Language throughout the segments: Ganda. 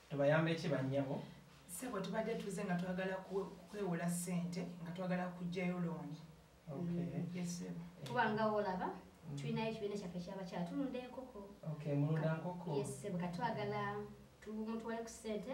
tubayambe ki bannyabo sebo tubadde tuze nga twagala kwewola sente nga twagala kugjayo looni kubanga olaba tulinayo ekibiina kyaffe kyabakyala tulunda enkoko mulunda nkoko katwagala mutwale ku sente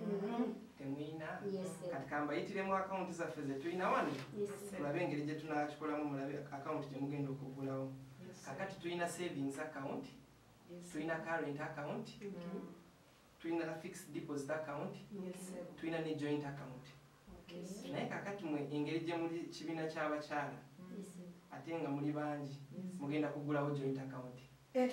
mm-hmm. temuyina kati kambayitiremu akawunti zaffe zetulina wano olabe engeri gyetunakikolamu mulabe akawunti gyemugenda okugulawo kakati tulina savings account tulina current account mm-hmm. tulina fixed deposit account tulina ne joint account naye kakati mwe engeri gyemuli kibiina kyabakyala ate nga muli bangi mugenda kugulawo joint account eh.